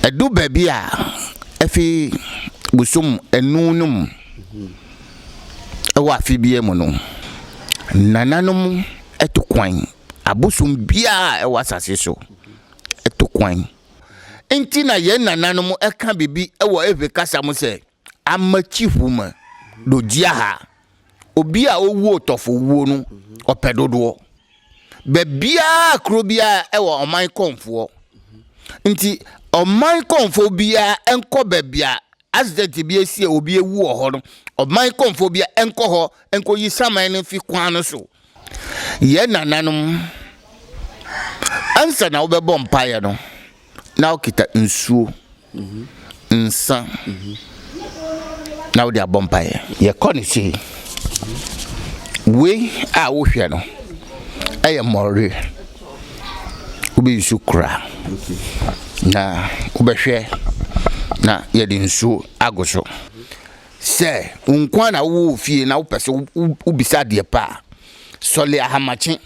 Ɛdu baabi a, efi bosom nnum no mu wɔ afe biara mu no, nananom to kwan, abosom biara a ɛwɔ asase so to kwan. Enti na yɛn nananom ka biribi wɔ Hebri kasa mu sɛ, Amakyihu ma do dzia ha. Obi a owu otɔfowuo no ɔpɛ dodoɔ. Baabiara kuro biara ɛwɔ ɔman kɔnfoɔ. Nti ɔman kɔnfoɔ biara ɛnkɔ baabi a accident bi asi a obi awu wɔ hɔ no, ɔman kɔnfoɔ biara ɛnkɔ hɔ ɛnkɔyi saman no mfi kwan no so. Yɛn nananom, ansa na wobɛbɔ mpaeɛ no, na wokita nsuo, nsa, na wode abɔ mpaeɛ. Yɛkɔ no sei. Wei a wohwɛ no, ɛyɛ mmɔre. Wobɛyi so kura na wobɛhwɛ na yɛde nsuo ago so. Sɛ wo nko ara na wowɔ wɔ fie na wopɛ sɛ wobisa adeɛ pa a, sɔle ahamakye.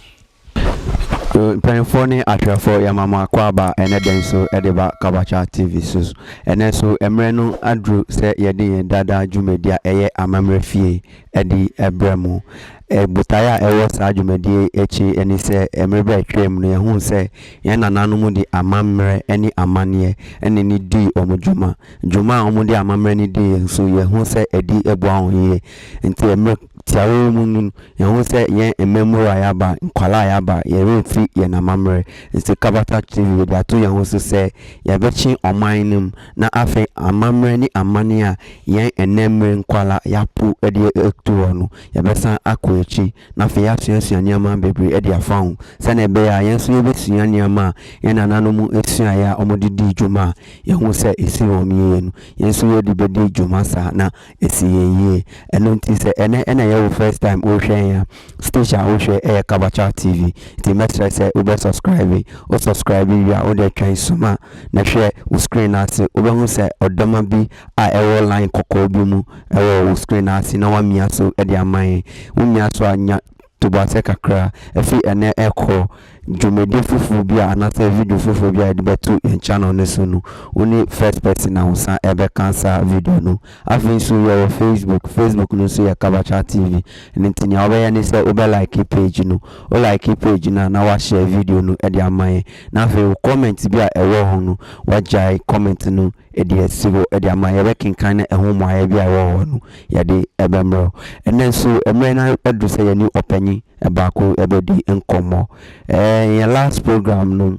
Mpanyinfoɔ ne atwerɛfoɔ yɛma mo akwaaba ɛnɛ da yi so de ba Kabacha TV so. Ɛnɛ nso mmerɛ no aduru sɛ yɛde yɛn daa daa dwumadie a ɛyɛ Amammerɛ Fie ɛde brɛ mo. Botaeɛ a ɛwɔ saa dwumadie yi akyi ne sɛ mmerɛ bi a ɛtwaa mu no yɛhuu sɛ yɛn nananom de amammerɛ ne amanneɛ ɛna ne dii wɔn dwuma. Dwuma a wɔde amammerɛ no di yɛn so, yehu sɛ ɛde boa wɔn yiye. Enti mmere tiawa yi mu no, yehu sɛ yɛn mmamuwa a yɛaba, nkwadaa a yɛaba, yɛremfi yɛn amammerɛ nsi. Kabata TV, yɛde ato yɛn ho so sɛ yɛbɛkye ɔman no mu, na afei amammerɛ ne amanne a yɛn nnɛ mmere nkwadaa yɛapo de atu hɔ no, yɛbɛsan akɔ akyi. na afei yɛasuasua nneɛma bebree de afa ho sɛnea ɛbɛyɛ a yɛn nso yebesua nneɛma a yɛn nananom suae a wɔde dii dwuma a yehu sɛ esii wɔn yiye no. Yɛn nso yɛde bedi dwuma saa na asi yɛn yiye. Ɛno nti sɛ ɛnnɛ na ɛyɛ wo first time worehwɛ yɛn a, station a wohwɛ yɛ Kabacha TV. Nti mɛsrɛ sɛ wobɛ subscribe. Wo subscribe wie a, wode twɛn soma na hwɛ wo screen no ase. Wobɛhu sɛ ɔdɔma bi a ɛwɔ line kɔkɔɔ bi mu wɔ wo screen no ase na woamia so de ama yɛn. Womia so a, nya toboasɛ kakra. Ɛfiri ɛnnɛ rekɔ, dwumadi foforɔ bi a anaasɛ video foforɔ bi a yɛde bɛto yɛn channel no so no, wo ne first person na wo san bɛka saa video no. Afei nso yɛwɔ Facebook, Facebook no nso yɛ Kabacha TV. Ɛno nti nea wobɛyɛ ne sɛ wobɛ like page no. Wo like page no a na woahyɛ video no de ama yɛn. Na afei wo comment bi a ɛwɔ ho no, woagyae comment no. Deɛ ɛsi hɔ de ama, yɛbɛkenkan na ɛho mmuaeɛ bi a ɛwɔ hɔ no, yɛde bɛmmerɛ wo. Ɛnnɛ nso, mmerɛ no aduru sɛ yɛne ɔpanyin baako bɛdi nkɔmmɔ. Ɛɛ, yɛn last program no,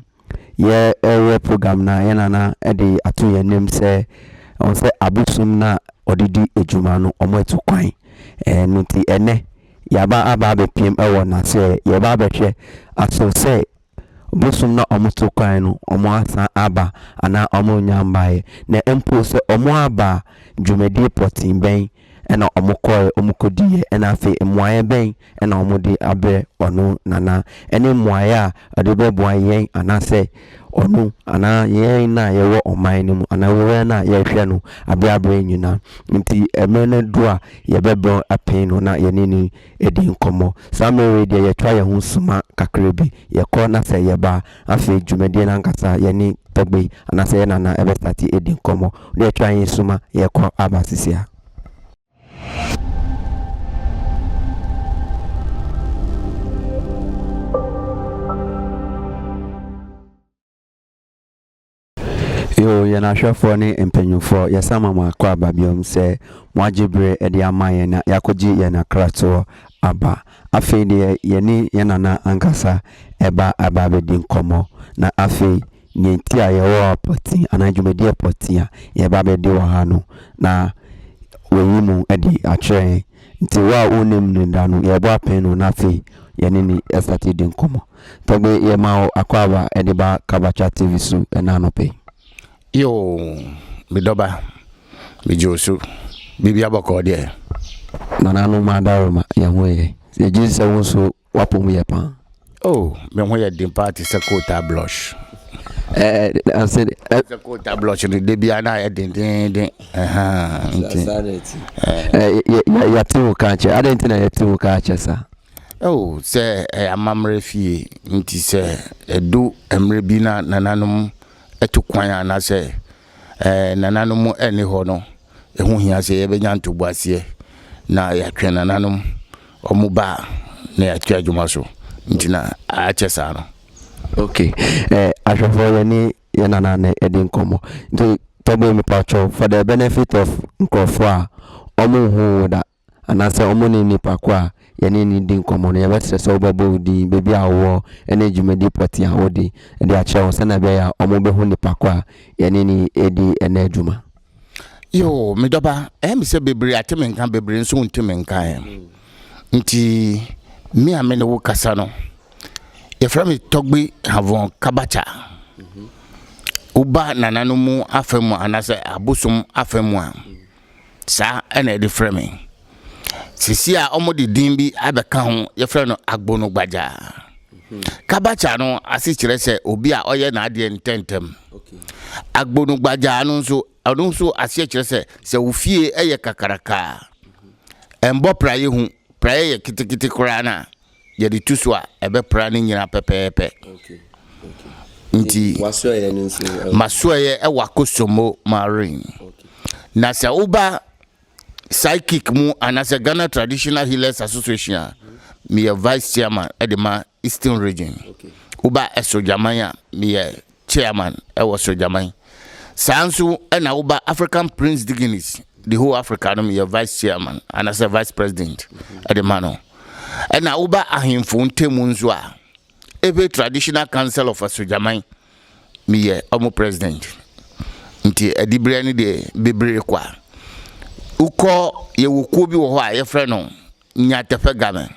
yɛreyɛ program no a, yɛn nana de ato yɛn anim sɛ, wɔn sɛ abosom no a wɔde di dwuma no, wɔatu kwan. Ɛno nti, ɛnnɛ, yɛaba aba abɛpiem wɔ n'aseɛ. Yɛreba abɛhwɛ aso sɛ Bosoom na ɔmo to kwan no ɔmo asan aba anaa ɔmo nnya mbaeɛ. Na mpo sɛ ɔmo aba a, dwumadie pɔtee bɛn na ɔmo kɔɔɛ ɔmo kɔdiiɛ ɛna afei mmuaeɛ bɛn na ɔmo de abrɛ ɔno Nana ɛne mmuaeɛ a ɔde bɛboa yɛn anaasɛ ɔno anaa yɛn no a yɛwɔ ɔman no mu anaa owura no a yɛrehwɛ no abrɛ abrɛ nyinaa. Nti mmerɛ no aduru a yɛbɛbrɛ apee no na yɛne no di nkɔmmɔ. Saa mmerɛ yi deɛ yɛtoa yɛn ho suma kakra bi, yɛkɔ na sɛ yɛba a, afei dwumadie no ankasa yɛne Togbe anaasɛ yɛn Nana bɛ starte adi nkɔmmɔ. Na yɛtoa yɛn suma yɛkɔ aba sisi a. Yoo, yɛn ahwɛfoɔ ne mpanyinfoɔ, yɛsan ma mo akɔ aba biom sɛ moagye bere de ama yɛn na yɛakɔgye yɛn akratoɔ aba. Afei deɛ yɛne yɛn nana ankasa reba aba abɛdi nkɔmmɔ. Na afei, deɛ nti a yɛwɔ ha pɔtee anaa dwumadie pɔtee a yɛreba abɛdi wɔ ha no, na wayi mo adi akyerɛ yɛn. Nti wo a wonnim no da no, yɛrebɔ apɛn no na afei yɛne no asate adi nkɔmmɔ. Togbe yɛ ma wo akwaaba ɛde ba Kabacha TV so ɛna anɔpa yi. Yoo me dɔba megye wo so biribia bɔkɔɔ deɛ. Nana no ma adaroma yɛn ho yɛ yɛ gyesi sɛ wo nso w'apɔ mu yɛ paa. Oh me ho yɛ den paa te sɛ kootaa blush. Ɛɛ anse de. Ɛ. Sɛ kootaa blush no de bia na ayɛ dendeenden ɛhaa nti. Saa na ɛti. Ɛɛ yɛ yɛ yɛ ti wo kaa kyɛ adɛn ti na yɛ ti wo kaa kyɛ saa. Oh, sɛ ɛyɛ amammerɛ fie nti sɛ ɛdu mmerɛ bi na nananom ɛtu kwan anaasɛ ɛɛ nananom ɛni hɔ no, ɛho hia sɛ yɛbɛnya ntoboaseɛ na yɛatwɛn nananom wɔn ba na yɛatua adwuma so nti na akyɛ saa no. ok eh, ahwɛfoɔ yɛne yɛ nana na ɛdi nkɔmmɔ nti tɔbɔ mepatwɔ for the benefit of nkurɔfoɔ a wɔn nhu wo da anaasɛ wɔn ne nnipa ko a yɛne no di nkɔmmɔ no, yɛbɛsrɛ sɛ wobɛbɔ wo din, baabi a wowɔ, ne dwumadi pɔtee a wode de akyerɛ wɔn sɛnea ɛbɛyɛ a wɔbɛhu nnipa ko a yɛne no redi ɛnnɛ dwuma. Yoo, me dɔba, ɛyɛ me sɛ bebree ate me nka, bebree nso nte me nka ɛ. Nti, me a me ne wo kasa no, yɛfrɛ me Tɔgbi Havon Kabakya. Woba nananom mu afa mu anaasɛ abosom afa mu a, saa na yɛde frɛ me. Seesei a wɔde din bi abɛka ho, yɛfrɛ no Agbonogbagya. Kabakya no ase kyerɛ sɛ obi a ɔyɛ n'adeɛ ntɛntɛm. Agbonogbagya no nso, ɔno nso aseɛ kyerɛ sɛ sɛ wo fie yɛ kakraka a, ɛmbɔ praeɛ hu, praeɛ yɛ ketekete koraa no a, yɛde tu so a ɛbɛpra ne nyinaa pɛpɛɛpɛ nti masoɛeɛ ɛwɔ akosombo marine na sɛ woba psychic mu anaasɛ ghana traditional healers association a meyɛ vice chairman ɛde ma eastern region woba ɛsogyaman a meyɛ Chairman wɔ Sogyaman. Saa nso na wo ba African Prince Diginis de whole Africa no meyɛ Vice Chairman anasɛ Vice President de ma no. Ɛna wo ba Ahemfo Ntamu nso a Ewe Traditional Council of Asogyaman meyɛ ɔmo President. Nti adiberɛ no deɛ bebree kwa. Wokɔ yɛwɔ kuo bi wɔ hɔ a yɛfrɛ no nya tɛfɛ game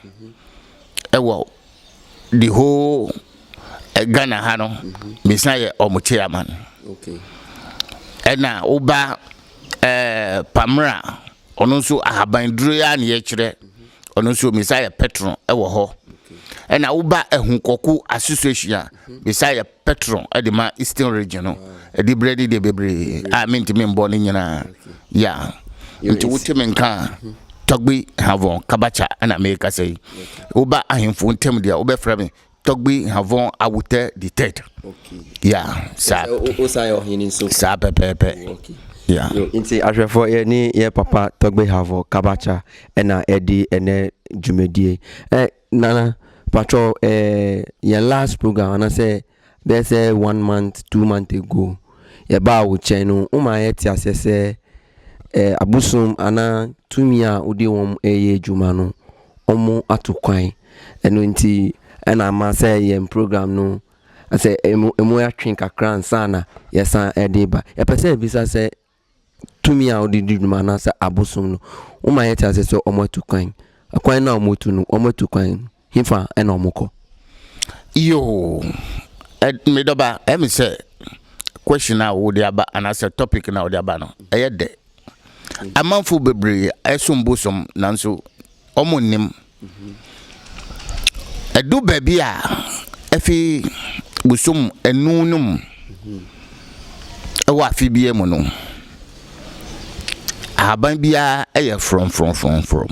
ɛwɔ the whole Ghana ha no mesan yɛ ɔmo chairman ɛna wo ba ɛɛ Pamela ɔno nso ahaban duro yi ara na yɛkyerɛ ɔno nso mesan yɛ patron ɛwɔ hɔ ɛna wo ba Ahunkɔku association a mesan yɛ Petro de ma Eastern Region no, ɛde berɛ ne deɛ bebree a mentumi mbɔ ne nyinaa. Ya. Nti wote me nka a, Tɔgbi Havɔn Kabakya na merekasa yi. Woba ahemfo ntam deɛ wobɛfrɛ me Tɔgbi Havɔn Awotɛ the third. Ya. Saa. Wosan yɛ ɔhene nso. Saa pɛpɛɛpɛ. Ya. Nti ahwɛfoɔ yɛ ne yɛ papa Tɔgbi Havɔn Kabakya na ɛde ɛnɛ dwumadie. Nana patrɔ ɛɛ yɛn last program anasɛ bɛyɛ sɛ one month two month ago yɛ baa wo kyɛn no wo maa yɛ te aseɛ sɛ ɛɛ abosom ana tumi a wode wɔn ɛyɛ adwuma no wɔn ato kwan ɛno nti ɛna ama sɛ yɛn program no sɛ ɛmu ɛmu atwe kakra ansa na yɛsan ɛde ba yɛpɛ sɛ ɛbisa sɛ tumi a wɔde di dwuma anaasɛ abosom no, woma yɛte ase sɛ wɔatu kwan. Kwan no a wɔatu no, wɔatu kwan no, hefa na wɔkɔ? Yoo, me dɔba, ɛyɛ me sɛ question a wɔde aba anaasɛ topic na wɔde aba no, ɛyɛ dɛ. Amanfo bebree ɛsom bosom nanso wɔn nnim. Ɛdu baabi a, efi bosom nnum no mu wɔ afe biara mu no, ahaban biara yɛ frɔmfrɔmfrɔmfrɔm.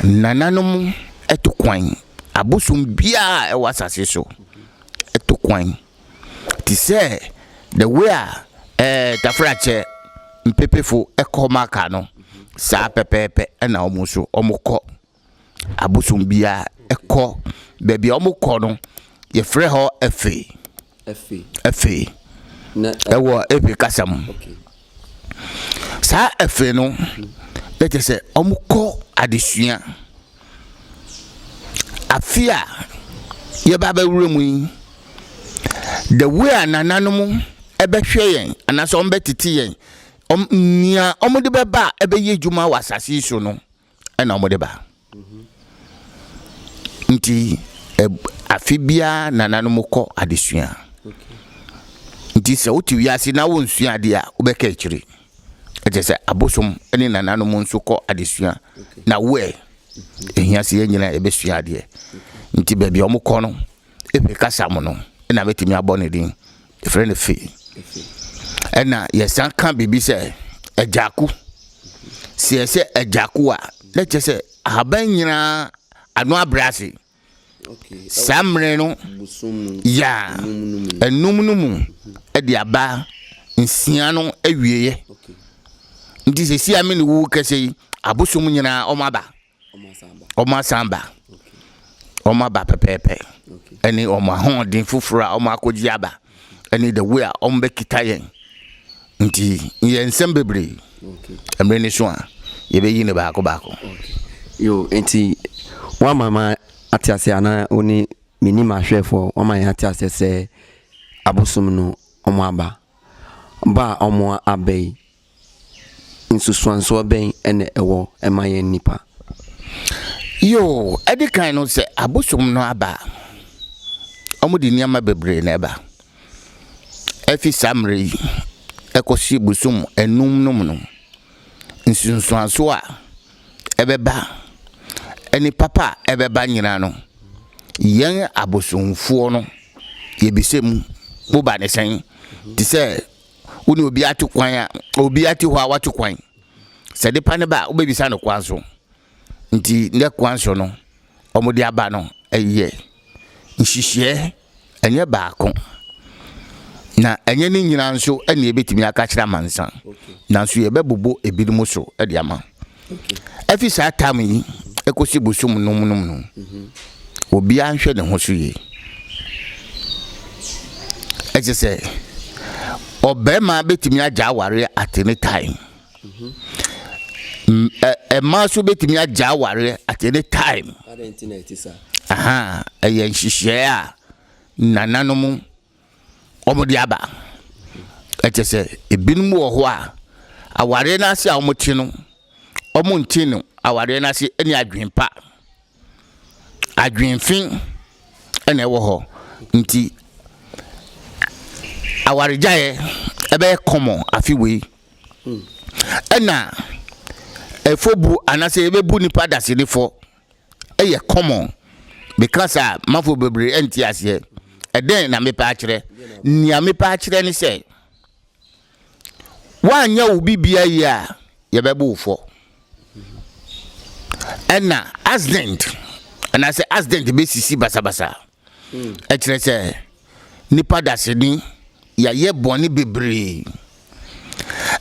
Nananom to kwan, abosom biara a ɛwɔ asase so to kwan. te sɛ the way a eh, tafrakyɛ mpepefo kɔ maka no saa pɛpɛɛpɛ na wɔn nso wɔkɔ abosom biara ɛkɔ baabi a wɔkɔ no yɛfrɛ hɔ efe efe ɛwɔ efe kasa mu. Saa afei no, na kyerɛ sɛ wɔkɔ adesua. Afe a yɛba abɛwura mu yi, the way a nananom bɛhwɛ yɛn anaasɛ wɔbɛtete yɛn, wɔn nea wɔde bɛba a ɛbɛyɛ adwuma wɔ asase yi so no, ɛna wɔde ba nti afe biara nananom kɔ adesua nti sɛ wote wiase na wonsua adeɛ a wobɛka akyire ɛkyɛ sɛ abosom ne nananom nso kɔ adesua na woɛ ɛhia sɛ yɛn nyinaa yɛbɛsua adeɛ nti baabi a wɔkɔ no ɛpɛ kasa mu no ɛna mɛtumi abɔ ne din yɛfrɛ no fe ɛna yɛsan ka biribi sɛ agyako sɛ yɛsɛ agyako a na kyerɛ sɛ ahaban nyinaa ano abrɛ ase saa mmerɛ no ya ɛnum no mu ɛde aba nsia no awieɛ nti sɛ si ame ne wuwu kɛsɛ yi abosom nyinaa ɔmo aba okay. wɔn asan aba, wɔn aba pɛpɛɛpɛ, ɛne wɔn ahoɔden foforɔ a wɔn akɔgye aba, ɛne the way a wɔn bɛkita yɛn. Nti yɛ nsɛm bebree, mmerɛ ni so a yɛbɛyi ne baako baako. Yo, nti wama ma ate aseɛ anaa wo ne menim ahwɛfoɔ wama yɛn ate aseɛ sɛ abosom no wɔn aba ba a wɔn aba yi nsusuansoɔ bɛn na ɛwɔ ma yɛn nnipa? Yoo, ɛde kan no sɛ abosom no aba a, wɔde nneɛma bebree na ɛba. Ɛfi saa mmerɛ yi ɛkɔsi bosom nnum no mu no, nsunsuansoɔ a ɛbɛba ne papa a ɛbɛba nyinaa no, yɛn abosomfoɔ no yɛbisa mu, mo ba ne sɛn? Te sɛ wo ne obi ato kwan a obi ate hɔ a wato kwan sɛ de pa ne ba a wobɛbisa no kwan so nti ne kwan so no wɔde aba no ɛyɛ nhyehyeɛ ɛnyɛ baako na ɛnyɛ ne nyinaa nso ɛne ɛbɛtumi aka kyerɛ amansa nanso yɛbɛbobo ebinom so de ama Efi saa tam yi kosi bosoom nnum no mu no, obiara nhwɛ ne ho so yie. Ɛkyɛ sɛ ɔbarima betumi agya awareɛ at any time. Mmaa nso betumi agya awareɛ at any time. Ɛyɛ nhyehyɛɛ a nananom wɔde aba. Ɛkyɛ sɛ ebinom wɔ hɔ a, awareɛ no ase a wɔte no, wɔnte no awareɛ no ase ne adwene pa. Adwene fi na ɛwɔ hɔ. Nti awaregyaeɛ ɛbɛyɛ kɔmɔ afe wei. Ɛna ɛfɔbuo anaasɛ yɛbɛbu nipa dasene fɔ. yɛ common meka saa mafo bebree ɛnte aseɛ ɛdɛn na mepɛ akyerɛ nea mepɛ akyerɛ ne sɛ woanyɛ wo bibia yie a yɛbɛbo wo fɔ ɛna accident anaasɛ accident bɛsisi basabasa ɛkyerɛ sɛ nipa daseni yɛayɛ bɔne bebree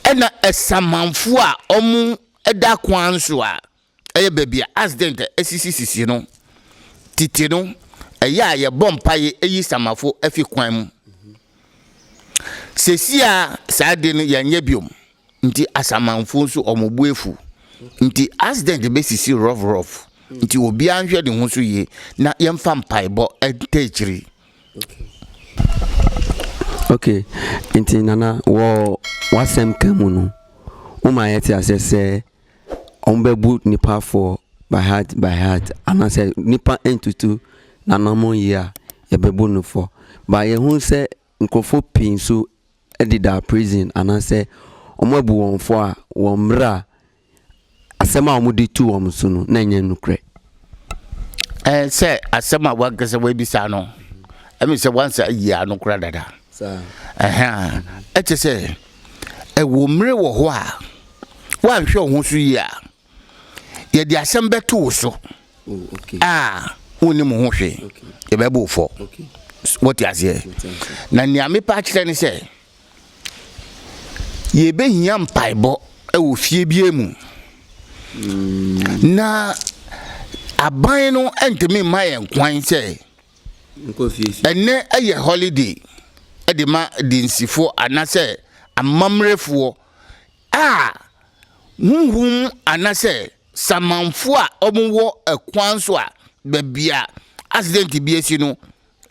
ɛna ɛsamanfoɔ a ɔmo ɛda kwan so a Ɛyɛ baabi a accident asisisisi no. Tete no, ɛyɛ a yɛbɔ mpaeɛ yi samafo fi kwan mu. Seesei a saa ade no yɛnyɛ biom nti asamanfo nso wɔn bo afu. Nti accident bɛsisi rough rough. Nti obiara nhwɛ ne ho so yie na yɛmfa mpaebɔ nta akyiri. Okay, nti Nana wɔ w'asɛm ka mu no woma yɛte aseɛ sɛ Wɔn bɛ bu nipa foɔ by heart by heart anaasɛ nipa ntutu n'anamɔn yie a yɛbɛ bu no fɔ but yɛ hu sɛ nkorɔfoɔ pii nso ɛdeda prison anaasɛ wɔn abu wɔn fɔ a wɔn mmerɛ a asɛm a wɔn de tu wɔn so no na ɛnyɛ nukurɛ. Ɛɛ sɛ asɛm a wankasa wabisa no ɛmi sɛ wansa yie ano kora dada ɛhɛn ɛkyɛ sɛ. Ɛwɔ mmere wɔ hɔ a, woanhwɛ wo ho so yie a, yɛde asɛm bɛto wo so a wonnim ho hwee, yɛbɛbɔ wo fɔ. Wote aseɛ? Na nea mepɛ akyerɛ ne sɛ, yɛbɛhia mpaebɔ wɔ fie biara mu. Na aban no ntumi mma yɛn kwan sɛ Ɛnnɛ yɛ holiday de ma Adensifo anasɛ Amammerɛfoɔ a huhum anasɛ samanfo a wɔn wɔ ɛkwan so a baabi a accident bi asi no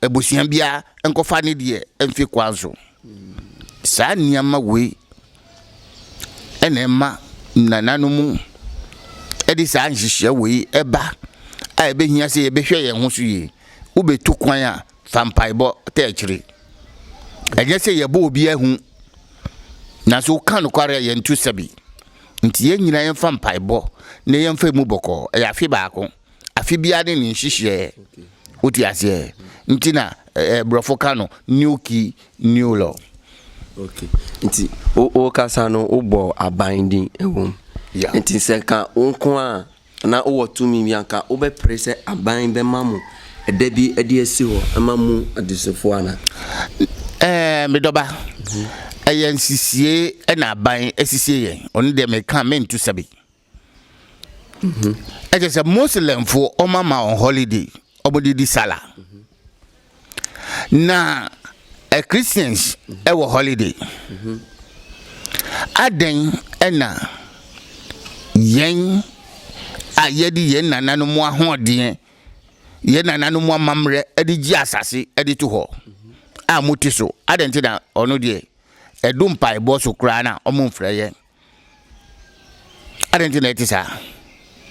abusua biara nkɔfa ne deɛ mfi kwan so. Saa nneɛma wei. ɛna ɛma nananom de saa nhyehyɛ wei ɛba a ɛbɛhia sɛ yɛbɛhwɛ yɛn ho so yie wobɛtu kwan a fa mpaebɔ ta akyire ɛnyɛ sɛ yɛbɔ obi ahu nanso woka nokware a yɛnto sɛbi nti yɛn nyinaa yɛmfa mpaebɔ na yɛmfa mu bɔkɔɔ ɛyɛ afe baako afe biara ne ne nhyehyeɛ wote aseɛ nti na ɛɛ borɔfo ka no new key new law. okay nti wo wo kasa no wo bɔ aban din ɛwɔ mu yeah. nti sɛ ka wo nko a na wowɔ tumi bi anka wobɛpere sɛ aban bɛma mo ɛda bi ɛde asi hɔ ɛma mu adesofoɔ ana. ɛɛ medɔba ɛyɛ nsisie ɛna aban asisie yɛn ɔno deɛ meka mentu sɛbi. ɛkyɛ sɛ muslimfoɔ ɔma ma wɔn holiday ɔmode di sala na ɛ eh, christians ɛwɔ holiday adɛn ɛna yɛn a yɛde yɛn nananom ahoɔdeɛ yɛn nananom amammerɛ ɛde gye asase ɛde to hɔ a mote so adɛn nti na ɔno deɛ ɛdo mpaebɔ so koraa na ɔmo mfrɛ yɛn adɛn nti na ɛte saa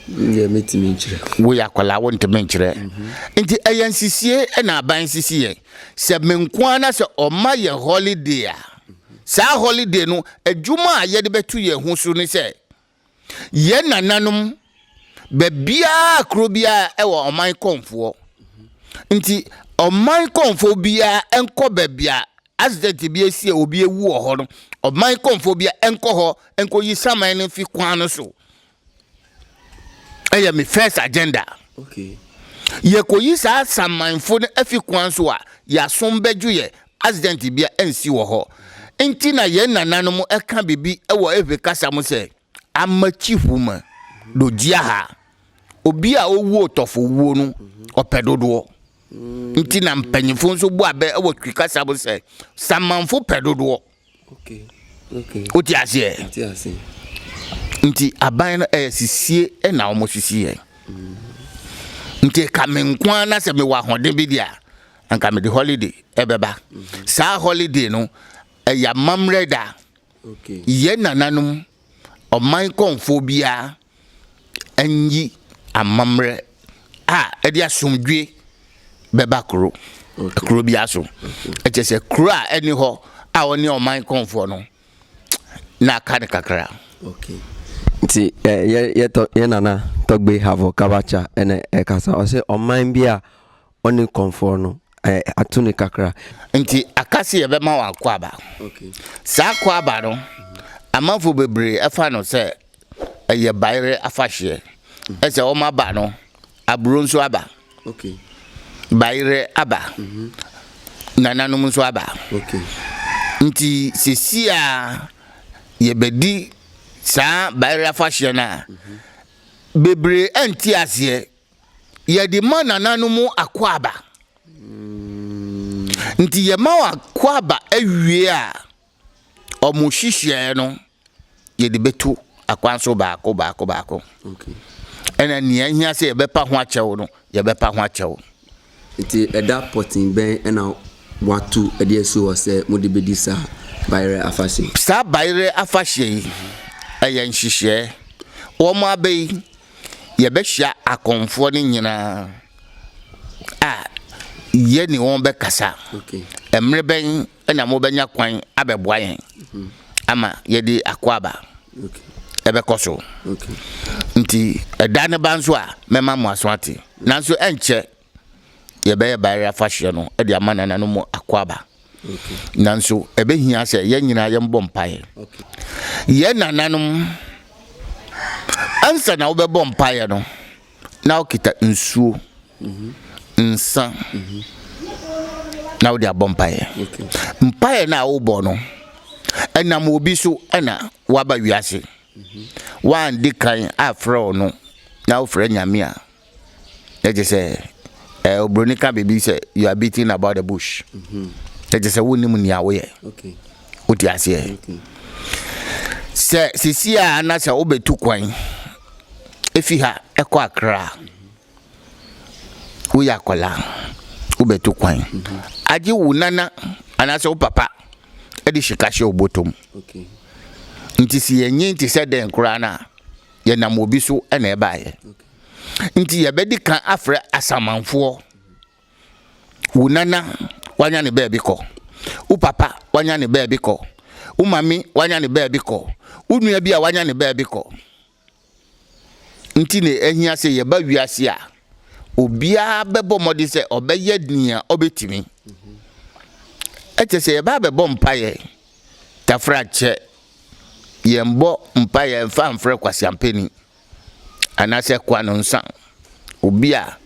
deɛ mɛtumi nkyerɛ woyɛ akwadaa wontumi nkyerɛ nti ɛyɛ nsisie na aban sisi yɛn sɛ me nko ara na sɛ ɔma yɛ holiday a saa holiday no adwuma a yɛde bɛto yɛn ho so ne sɛ yɛn nananom Baabiara kuro biara wɔ ɔman kɔnfoɔ nti ɔman kɔnfoɔ biara nkɔ baabi a accident bi asi a obi awu wɔ hɔ no ɔman kɔnfoɔ biara nkɔ hɔ nkɔ yi saman no fi kwan no so ɛyɛ me first agenda. Okay. yɛkɔyi saa samanfo no afi kwan so a yɛasom bɛdwo yɛ accident bia ansi wɔ hɔ nti na yɛn nananom ɛka biribi wɔ efe kasa mu sɛ Amakyihu ma do dzia ha. Obi a owu ɔtɔfowuo no ɔpɛ dodoɔ. Nti na mpanyinfo nso bɔ abɛ wɔ Twi kasa mu sɛ Samanfo pɛ dodoɔ. Wote aseɛ? Nti aban no ɛyɛ sisie ɛna wɔn sisi yɛ. Nti ka me nko ara na sɛ mewɔ ahoɔden bi deɛ a, anka mede holiday ɛbɛba. Saa holiday no ɛyɛ amammerɛ da. Yɛn nananom ɔman kɔmfoɔ biara nyi amammerɛ a ɛde asomdwoe bɛba kuro kuro biara so. Ɛkyɛ sɛ kuro a ɛne hɔ a ɔne ɔman kɔmfoɔ no na aka no kakra. Nti yɛ yɛ tɔ yɛ nana tɔgbe havo kabacha ɛna ɛkasa ɔsɛ ɔman bi a ɔne kɔmfoɔ no eh, ato ne kakra. Nti aka sɛ yɛbɛma wɔ akwaaba. Okay. Saa akwaaba no, amanfo bebree ɛfa no sɛ ɛyɛ bayerɛ afahyeɛ. Ɛsɛ mm. wɔn aba no, aburo nso aba. Okay. Bayerɛ aba. Mm -hmm. Nananom nso aba. Okay. Nti sisi a yɛbɛdi saa bayerɛ afahyeɛ no a, mm -hmm. bebree anti aseɛ yɛde ma nananom akwaaba. Nti yɛma wɔ akwaaba awie a ɔmo hyehyɛɛ no yɛde bɛtu akwan so baako baako baako. Ɛna nea ahia sɛ yɛbɛpa ho akyɛw no yɛbɛpa ho akyɛw. Nti ɛda pɔten bɛn ɛna watu ɛde asi hɔ sɛ mo de bɛdi saa bayerɛ afahyɛ yi? Saa bayerɛ afahyɛ yi ɛyɛ nhyehyɛɛ wɔn abɛ yi yɛbɛhyia akɔmfoɔ no nyinaa a, yɛne wɔn bɛkasa. Mmerɛ bɛn na mobɛnya kwan abɛboa yɛn ama yɛde akwaaba ɛbɛkɔ so? Nti ɛda no ba nso a, mɛma mo aso ate. Nanso ɛnkyɛ yɛbɛyɛ bayerɛ afahyeɛ no de ama nana no mu akɔaba nanso ɛbɛhia sɛ yɛn nyinaa yɛmbɔ mpaeɛ yɛ nananom ansa na wobɛbɔ mpaeɛ no na wokita nsuo nsa na wode abɔ mpaeɛ mpaeɛ no a wobɔ no ɛnam obi so ɛna waba wiase wande kan afrɛ ɔno na wofrɛ nyame a Kyɛ te sɛ ɛɛ oburoni ka biribi sɛ you are beating about the bush. Kyɛ te sɛ wonnim nea woyɛ. Wote aseɛ? Sɛ sisi a na sɛ wobɛtu kwan efi ha ɛkɔ akra a, woyɛ akwadaa wobɛtu kwan. Agye wo nana anaasɛ wo papa de sika hyɛ wo bɔtɔ mu. Nti sɛ yɛnyin te sɛ dɛn koraa no a, yɛnam obi so na ɛbaeɛ. Nti yɛbɛdi kan afrɛ asamanfoɔ. Wo nana wanya ne baabi kɔ. Wo papa wanya ne baabi kɔ. Wo mami wanya ne baabi kɔ. Wo nua bi a wanya ne baabi kɔ. Nti na ahia sɛ yɛba wiase a obiara bɛbɔ mmɔden sɛ ɔbɛyɛ nea ɔbɛtumi. Ɛkyɛ sɛ yɛba abɛbɔ mpaeɛ tafra kyɛ. Yɛmbɔ mpaeɛ mfa mfrɛ kwasiampani. anaasɛ kwanonsa, obi a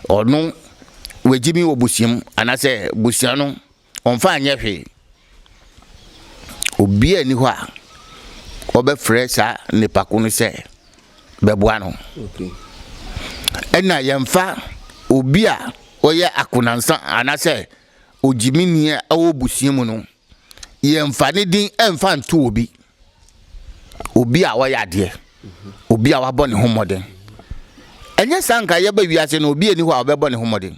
ɔno wagye bi wɔ busua mu anaasɛ busua no ɔmfa anyɛ hwee. Obi a ni hɔ a ɔbɛfrɛ saa nipa ko no sɛ bɛboa no. Ɛna yɛmfa obi a ɔyɛ akonansa anaasɛ ogyimini a ɛwɔ busua mu no yɛmfa ne din mfa nto obi obi a ɔyɛ adeɛ obi a wabɔ ne ho mmɔden ɛnyɛ saa nka yɛba wiase no obi ani hɔ a ɔbɛbɔ ne ho mmɔden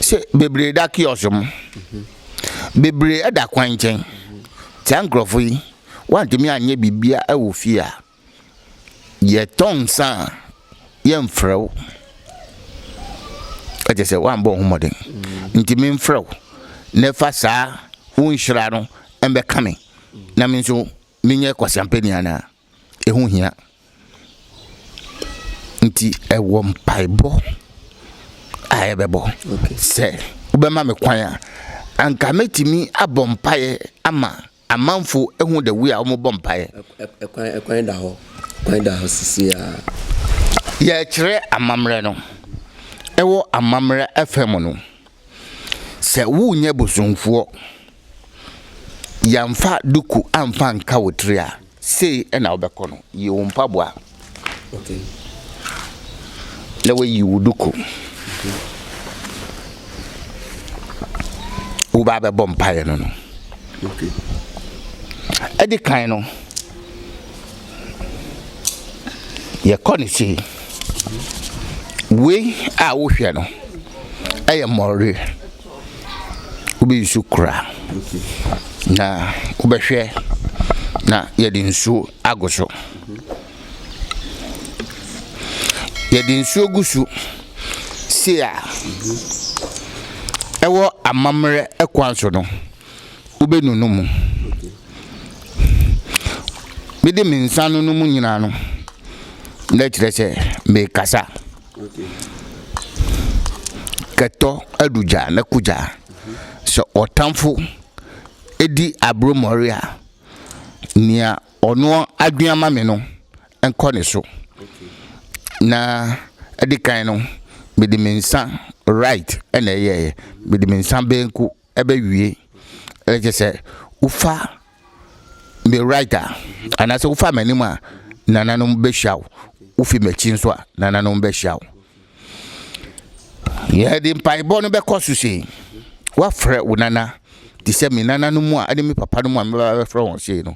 sɛ bebree da kiɔs mu bebree da kwan nkyɛn saa nkurɔfo yi wantumi anyɛ biribia wɔ fie a Yɛtɔ nsa a, yɛmfrɛ wo. Kyerɛ sɛ, woammɔ wo ho mmɔden nti memfrɛ wo na fa saa wo nhyira no mmɛka me na me nso menyɛ kwaseampani anaa? Ɛho hia. Nti ɛwɔ mpaebɔ a yɛbɛbɔ sɛ wobɛma me kwan a, anka mɛtumi abɔ mpaeɛ ama Amanfo hu the way a wɔn bɔ mpaeɛ. Ɛkwan ɛkwan da hɔ ɛkwan da hɔ sisi a. Yɛrekyerɛ amammerɛ no, ɛwɔ amammerɛ ɛfɛ mu no, sɛ wonyɛ bosomfoɔ, yɛnfa duku anfa nka wo tiri a, Sei na wobɛkɔ no, Yi wo mpaboa na woayi wo duku. Wobaa bɛbɔ mpaeɛ no no. Ɛdi kan no, yɛkɔ ne sei. Wei a wohwɛ no ɛyɛ mmɔre. wobɛyi nsuo kura na wobɛhwɛ na yɛde nsuo agu so yɛde nsuo gu so sei a ɛwɔ amammerɛ kwan so no wobɛnunu mu mede me nsa nunu mu nyinaa no na ɛkyerɛ sɛ mekasa. Kɛtɔ adu gya na ko gya. Sɛ ɔtamfo di aberemmɔre a, nea ɔno adwene ama me no nkɔ ne so. Na ɛde kan no, mede me nsa right na ɛyɛeɛ, mede me nsa benku ɛbɛwie ɛɛ kyerɛ sɛ wofa me right a anaasɛ wofa m'anim a nananom bɛhyia wo wofi m'akyi nso a nananom bɛhyia wo yɛde mpaebɔ no bɛkɔ so sei woafrɛ wo nana te sɛ me nananom a ɛne me papa no mu a mebɛba bɛfrɛ wɔn sei no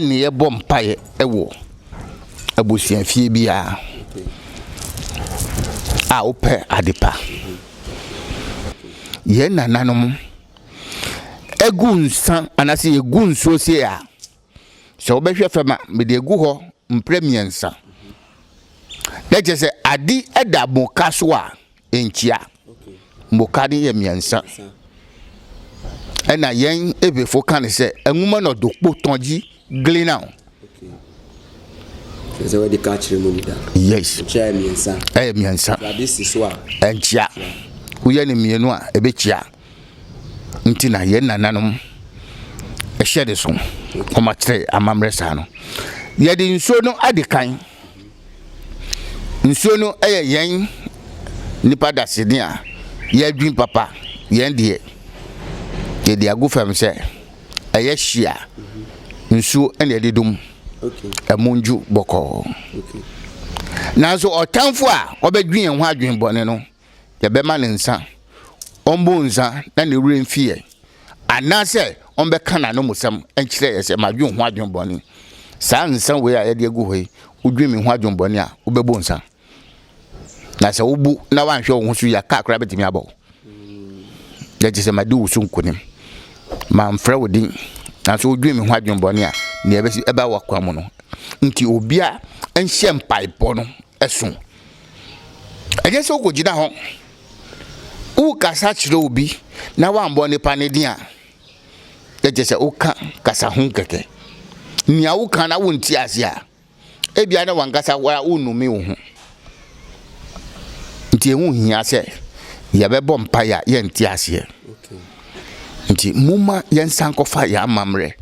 ne yɛbɔ mpaeɛ wɔ abusuafie biara a wopɛ adepa. Yɛn nananom egu nsa anaasɛ yɛgu nsuo sie a, sɛ wobɛhwɛ fam a, mede agu hɔ mprɛ mmiɛnsa. Na kyerɛ sɛ ade da moka so a, nkyia. Mboka no yɛ mmiɛnsa. Ɛna yɛn Ebefo ka no sɛ anwuma na ɔdo kpo tɔgye glinao. Sɛ wɔde ka kyerɛ mu da. Yes. Nkyia yɛ mmiɛnsa. Ɛyɛ mmiɛnsa. Ade si so a. Nkyia. Woyɛ no mmienu a ɛbɛkyia. nti na yɛn nananom hyɛ de so wɔakyerɛ amammerɛ saa no yɛde nsuo no adi kan nsuo no yɛ yɛn nipa daseni a yɛadwin papa yɛn deɛ yɛde agu fam sɛ ɛyɛ hyia nsuo na yɛde dum ɛmu ndwu bɔkɔɔ nanso ɔtanfo a ɔbɛdwi yɛn ho adwen bɔne no yɛbɛma no nsã, ɔmbɔ nsã na ne werɛ mfi yɛn, anaasɛ ɔmbɛka n'anomusɛm nkyerɛ yɛn sɛ, Madwen ho adwen bɔne. Saa nsã wei a yɛde agu hɔ yi, wodwen me ho adwen bɔne a, wobɛbɔ nsã. Na sɛ wobu na woanhwɛ wo ho so yie a, kaa koraa bɛtumi abɔ wo. Yɛ gye sɛ madi wo so nkonim. Mamfrɛ wo din, nanso wodwen me ho adwen bɔne a, nea ɛbɛsi ɛba w'akwan mu no. Nti obia nhyɛ mpaebɔ no ɛso. Ɛnyɛ sɛ wokɔgyina hɔ, worekasa kyerɛ obi na woambɔ nipa no din a, na kyerɛ sɛ woka kasa ho kɛkɛ. Nea woka na wonte ase a, ebia na wankasa wara wonnome wo ho. Nti ɛho hia sɛ yɛbɛbɔ mpaeɛ a yɛnte aseɛ. Nti momma yɛnsan kɔfa yɛn amammerɛ.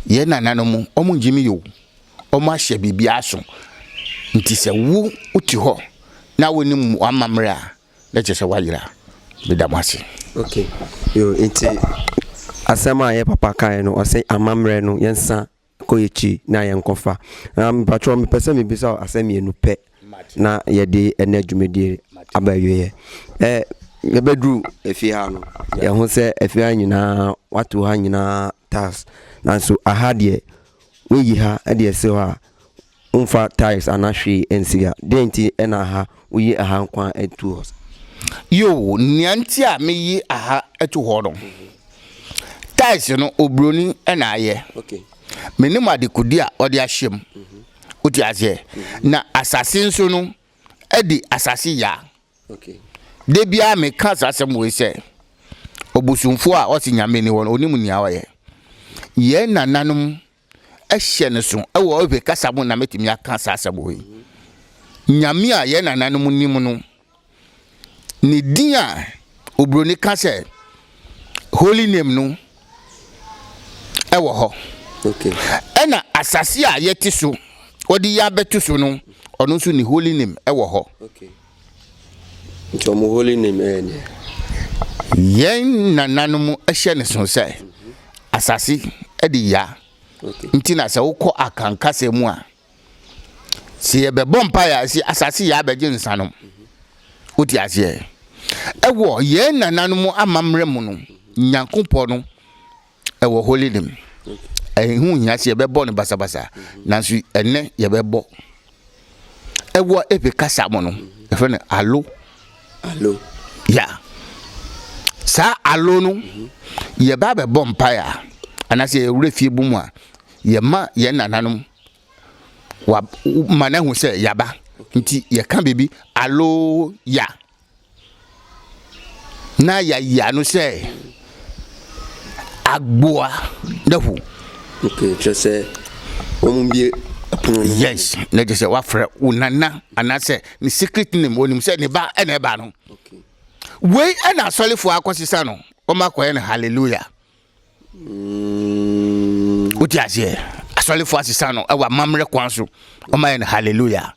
Yɛn nananom, wɔn ngyimi yɛ o. wɔahyɛ biribi aso. Nti sɛ wo wote hɔ na wonim w'amammerɛ a, na kyerɛ sɛ woayera. Meda mo ase. Ok, yo, nti asɛm a yɛ papa kaeɛ no, ɔse amammerɛ no yɛnsa kɔ yɛkyi na yɛnkɔfa. Na mpakyɛw mepɛ sɛ mebisa wo asɛm mmienu pɛ na yɛde ɛnɛ dwumadie aba awieɛ. Ɛ, yɛbɛduru efie ha no, yɛho sɛ efie ha nyinaa, wato ha nyinaa tiles. Nanso aha deɛ, Woyi ha de asi hɔ a, womfa tiles anaa hwee ansi ha. Dɛn nti na ha woyi ha nko ara to hɔ saa? Yoo, nea nti a meyi ha to hɔ no, tiles no, oburoni na ayɛ. Menim adekode a ɔde ahyɛ mu. Wote aseɛ? Na asase nso no, adi asase ya. Da biara meka saa asɛm wei sɛ, ɔbosomfoɔ a ɔse Nyame nni hɔ no, ɔnim nea ɔyɛ. Yɛn nananom hyɛ no so wɔ Ewe kasa mu na mɛtumi aka saa asɛm wei. Nyame a yɛn nananom nim no, ne din a oburoni ka sɛ holy name no, wɔ hɔ. Ɛna asase a yɛte so, wɔde yi abɛto so no, ɔno nso ne holy name wɔ hɔ. Nti wɔn holy name ɛyɛ deɛ. Yɛn nananom hyɛ ne so sɛ asase de ya. Nti na sɛ wokɔ akankasa mu a. Sɛ yɛbɛbɔ mpaeɛ a, ɛsɛ asase yɛ abɛgye nsa no. Wote aseɛ? Ɛwɔ yɛn nananom amammerɛ mu no, Nyankopɔn no ɛwɔ holy name. Ɛho hia sɛ yɛbɛbɔ no basabasa, nanso ɛnɛ yɛbɛbɔ. Ɛwɔ epe kasa mu no, yɛfrɛ no alo. Alo. Ya. Saa alo no, yɛba bɛbɔ mpaeɛ a, anaasɛ yɛwura fie bu mu a, Yɛma yɛn nananom wa ma no ahu sɛ yɛaba nti yɛka biribi alo ya na yɛayi ano sɛ agboa dahu. Okay, kyerɛ sɛ wɔn bie pono no. Yes, na kyerɛ sɛ wafrɛ wo nana anaasɛ ne secret name wɔnim sɛ ne ba ɛna ɛba no. Wei ɛna asɔrefoɔ akɔsesa no wɔn akɔyɛ no hallelujah. Wote aseɛ? Asɔrefoɔ asesa no ɛwɔ amammerɛ kwan so. Wɔayɛ no hallelujah.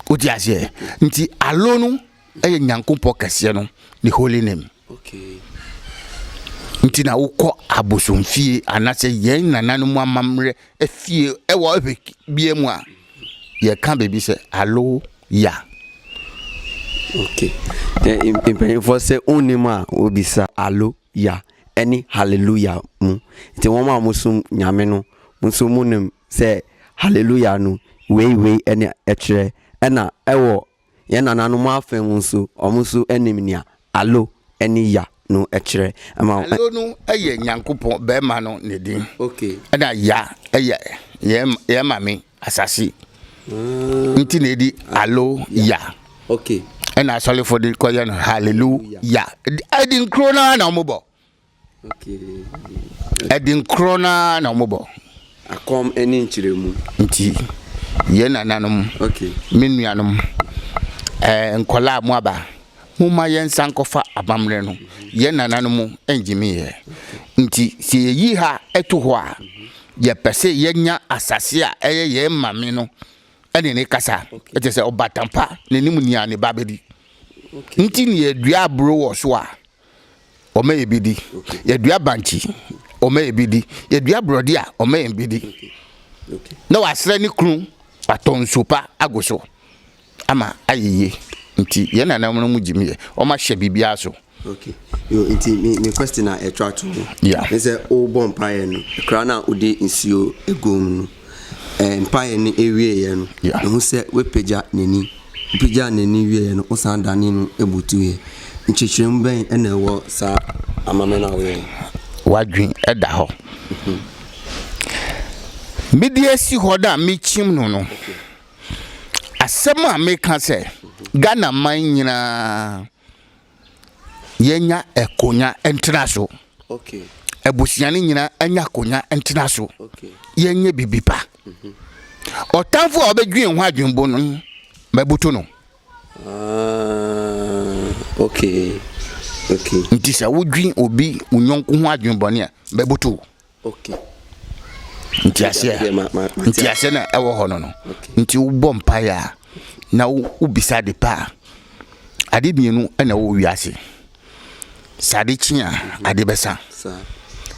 Wote aseɛ? Nti alo no ɛyɛ Nyankopɔn kɛseɛ no ne holy name. Nti na wokɔ abosomfie anaasɛ yɛn nananom amammerɛ afie ɛwɔ ɛhwɛ bia mu a yɛka baabi sɛ alo ya. Okay. Mpanyinfoɔ sɛ wonim a wobisa alo. Ya ne Haleluya mu. Enti wɔn a wɔsom Nyame no nso monim sɛ Haleluya no wei wei na ɛkyerɛ. Ɛna ɛwɔ yɛn nananom afa mu nso, wɔn nso nim nea Alo ne Ya no kyerɛ. Ɛma. Alo no yɛ Nyankopɔn barima no ne din. Ɛna Ya yɛ yɛn Maame Asase nti na edi alo ya. Okay. Ɛna asɔlefo de kɔyɛ no hallelujah. Ɛdi nkoro naa na wɔn bɔ. Okay. Ɛdi nkoro naa na wɔn bɔ. Akɔm ɛne nkyerɛmu. Nti yɛn nananom. Okay. Me nuanom. Ɛɛ nkɔla a mo aba. Mo ma yɛn nsa nkɔfa abammerɛ no. Yɛn nananom ɛngyimi yɛ. Nti sɛ yɛyi ha ɛto hɔ a. Yɛpɛ sɛ yɛnya asase a ɛyɛ yɛn maame no ne ne kasa, ɛkyɛ sɛ ɔbatan pa ne ne mu nea ne ba bɛdi. Nti ne yɛdua aburo wɔ so a, ɔma yɛ bi di. Yɛdua bankye, ɔma yɛ bi di. Yɛdua borɔde a, ɔma yɛn bi di. Na wasrɛ ne kunu atɔ nsuo pa agu so. Ama ayɛ yie nti yɛn nananom no mu gyim yɛ wɔn ahyɛ biribiara so. Okay yo nti me me question a ɛtwa to ho. Yeah. Ne sɛ wobɔ mpaeɛ no koraa na wode nsuo egu mu no ɛɛ mpaeɛ no ewieɛ no. Yeah. Ehu sɛ wapagya n'ani wopagyaa n'ani wieɛ no wosan dane no ebutuiɛ nkyekyeremu bɛn ɛna ɛwɔ saa amame no a woyɛ no. Wadwen ɛda hɔ. Mede esi hɔ na mekyim no no. Okay. asɛm a meka sɛ Ghana man nyinaa yɛnya akonya ntena so. Okay. Abusua no nyinaa anya akonya ntena so. Okay. Yɛnyɛ bibi pa. Mhm. Ɔtanfo a ɔbɛdwen ho adwenbo no mabutu no. Ah, okay. Okay. Nti sɛ wodwen obi wo nyɔnko ho adwenbɔne a mabutu. Okay. Nti aseɛ Deɛ ma ma ma nti aseɛ na ɛwɔ hɔ no no nti wobɔ mpaeɛ a na wo- wobisa ade pa a ade mmienu na ɛwɔ wiase sɛ ade kye a ade bɛsa saa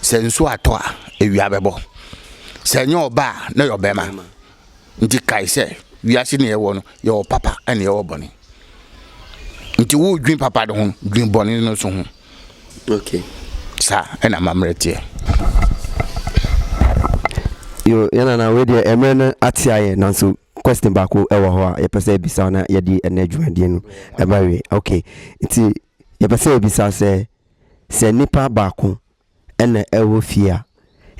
sɛ nsuo atɔ a awia bɛbɔ sɛ ɛnyɛ ɔba a na ɛyɛ ɔbɛrima ma Nti kae sɛ wiase ne yɛwɔ no, yɛwɔ papa ɛne yɛwɔ bɔne. Nti wo dwen papa no ho, dwen bɔne no so ho. Okay. Sa ɛna mammerɛ teɛ. Yo, yɛn nana wei deɛ ɛmmerɛ no ate ayɛ nanso question baako ɛwɔ hɔ a yɛpɛ sɛ ɛbisa na yɛde ɛnɛ dwumadie no ɛba wie. Okay. Nti yɛpɛ sɛ ɛbisa sɛ sɛ nipa baako na ɛwɔ fie a,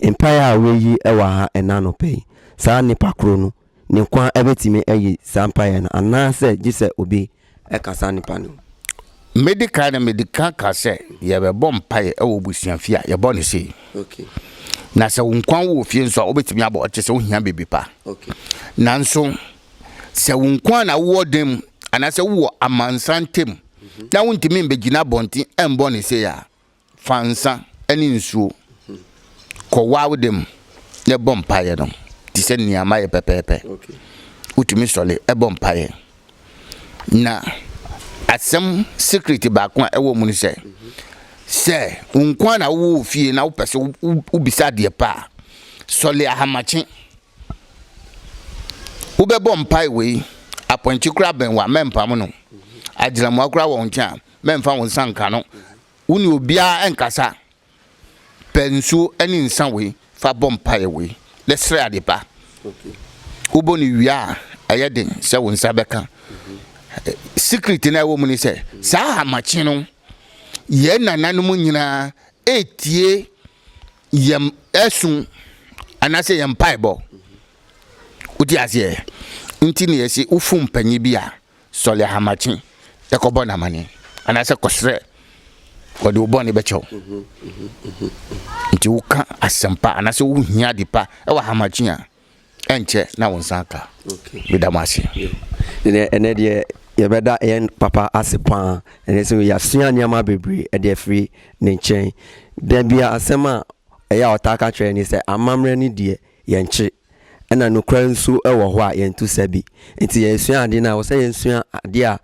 mpaeɛ a wɔreyi wɔ ha ɛnnɛ anɔpa yi, saa nipa korɔ no, ne nko ara bɛtumi ayi saa mpaeɛ no, anaasɛ gye sɛ obi ka saa nipa no ho? Medi kan no, medi kan ka sɛ yɛbɛbɔ mpaeɛ wɔ abusua fie a, yɛbɔ no sei. Okay. Na sɛ wo nko ara wɔ fie nso a, wobɛtumi abɔ ɔte sɛ wohia biribi pa. Okay. Nanso, sɛ wo nko ara na wowɔ dan mu, anaasɛ wowɔ amansan ntam, na wontumi mbɛgyina abɔnten mbɔ no sei a, Fa nsã ne nsuo kɔ w'awoda mu na bɔ mpaeɛ no te sɛ nea mayɛ pɛpɛɛpɛ. Wotumi sɔre bɔ mpaeɛ. Na asɛm secret baako a ɛwɔ mu ne sɛ, sɛ wo nko ara na wowɔ wo fie na wopɛ sɛ wobisa adeɛ pa a, sɔre ahamakye. Wobɛbɔ mpae wei, apɔnkye koraa bɛn wo a, mɛmpam no. Agyinamoa koraa wɔ wo nkyɛn a, mɛmfa wo nsa nka no. Wo ne obiara nkasa. Pɛ nsuo ne nsa wei fa bɔ mpaeɛ wei na srɛ ade pa. Wobɔ no wie a, ɛyɛ den sɛ wo nsa bɛka. Secret no a ɛwɔ mu ne sɛ, saa ahamakye no, yɛn nananom nyinaa ɛretie yɛn ɛso anaasɛ yɛn mpaebɔ. Wote aseɛ? Nti na yɛse wofu mpanyin bi a, Sɔre ahamakye kɔbɔ no amanneɛ, anaasɛ kɔsrɛ, wɔde wo bɔne bɛkyɛ wo. Nti woka asɛmpa anaasɛ wohia ade pa wɔ ahamakye a, ɛnkyɛ na wo nsa aka. Meda mo ase. Ɛnɛ deɛ yɛbɛda yɛn papa ase paa ɛnɛ sɛ yɛasua nneɛma bebree ɛde afiri ne nkyɛn da bia asɛm a ɛyɛ a ɔtaa ka kyerɛ ne sɛ amammerɛ ne deɛ yɛnkye Ɛna nokorɛ nso wɔ hɔ a yɛnto sa bi. Nti yɛresua adeɛ no a, ɛwɔ sɛ yɛsua adeɛ a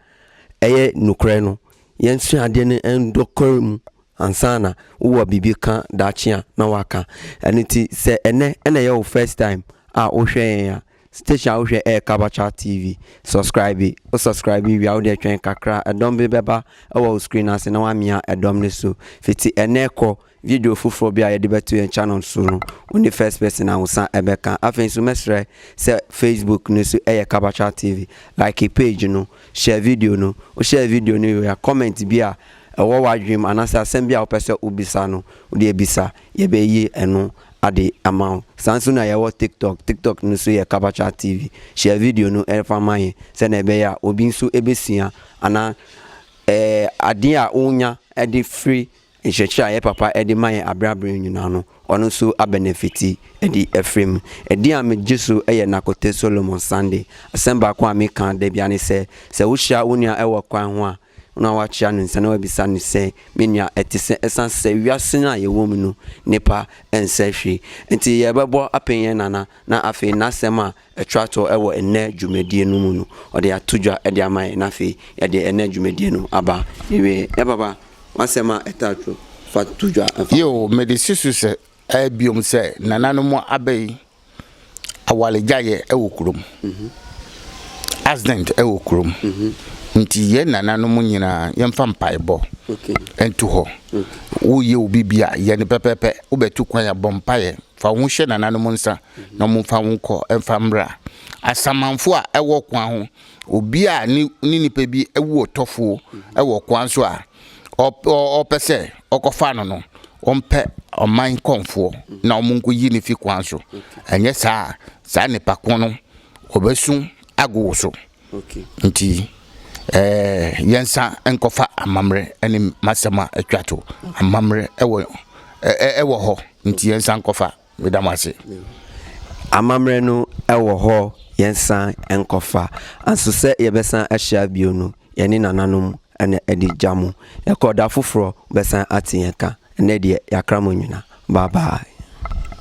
ɛyɛ nokorɛ no. Yɛnsua adeɛ no nokorɛ mu ansa na wowɔ biribi ka daakye a na woaka. Ɛno nti sɛ ɛnɛ na ɛyɛ wo first time a wohwɛ yɛn a, station a wohwɛ ɛyɛ Kabacha TV. Subscribe. Wo subscribe wie a, wodeɛ twɛn kakra. Ɛdɔm bi bɛba wɔ wo screen ase na woamia ɛdɔm no so. Fiti ɛnɛ kɔ, Video foforɔ bi a yɛde bɛto yɛn channel so no, wo ne First Person Ahosa bɛka. Afei nso mɛsrɛ sɛ Facebook no so yɛ Kabakya TV, like page no, share video no. Wo share video no wie a, comment bi a ɛwɔ w'adwene mu anaasɛ asɛm bi a wopɛ sɛ wo bisa no, wo deɛ bisa. Yɛbɛyi ɛno ade ama wo. Saa nso na yɛwɔ TikTok, TikTok no so yɛ Kabakya TV. Share video no fa ma yɛn sɛdeɛ ɛbɛyɛ a obi nso bɛsua anaa ɛɛ adeɛ a wonya de firi Nkyerɛkyerɛ a yɛ papa de ma yɛn aberɛ aberɛ nyinaa no, ɔno nso abɛnɛfiti de afiri mu. Ɛdeɛn a megye so yɛ Nakote Solomon Sande. Asɛm baako a meka da biara ne sɛ, sɛ wohyia wo nua wɔ kwan ho a, na woakyea no nsa na woabisa no sɛ, Me nua, ɛte sɛ? Ɛsiane sɛ wiase no a yɛwɔ mu no, nnepa nsɛ hwee nti, yɛrebɛbɔ apee yɛn nana, na afei n'asɛm a Ɛtra toɔ wɔ ɛnnɛ dwumadie no mu no, ɔde ato dwa de ama yɛn, na afei yɛde ɛnnɛ dwumadie no aba n'awieɛ. Yɛ papa, w'asɛm a ɛtra toɔ, fa to dwa mfa. Yiw, mede si so sɛ ɛyɛ bio sɛ nananom aba yi awaregyaeɛ wɔ kurom. Accident wɔ kurom. Nti yɛn nananom nyinaa yɛmfa mpaebɔ nto hɔ. Woyɛ obi bi a, yɛ no pɛpɛɛpɛ. Wobɛtu kwan a, bɔ mpaeɛ Fa wo ho hyɛ nananom nsa na wɔmfa wo nkɔ mfa mmra. Asamanfo a ɛwɔ kwan ho, obi a ne nipa bi awu ɔtɔfoɔ wɔ kwan so a ɔpɛ sɛ ɔkɔfa no no, ɔmpɛ ɔman kɔmfoɔ na wɔnkɔyi no fi kwan so. Ɛnyɛ saa a, saa nipa ko no, ɔbɛsu ago wo so. Nti yɛnsa nkɔfa amammerɛ ne m'asɛm a atwa to. Amammerɛ ɛwɔ ɛwɔ hɔ nti yɛnsa nkɔfa. Meda mo ase. Amammerɛ no ɛwɔ hɔ yɛnsa nkɔfa. Anso sɛ yɛbɛsan ahyia bio no yɛne nananom na ɛde gya mo. Yɛkɔ da foforɔ mobɛsan ate yɛn ka. Ɛnnɛ deɛ yɛakra mo nyina. Bye bye.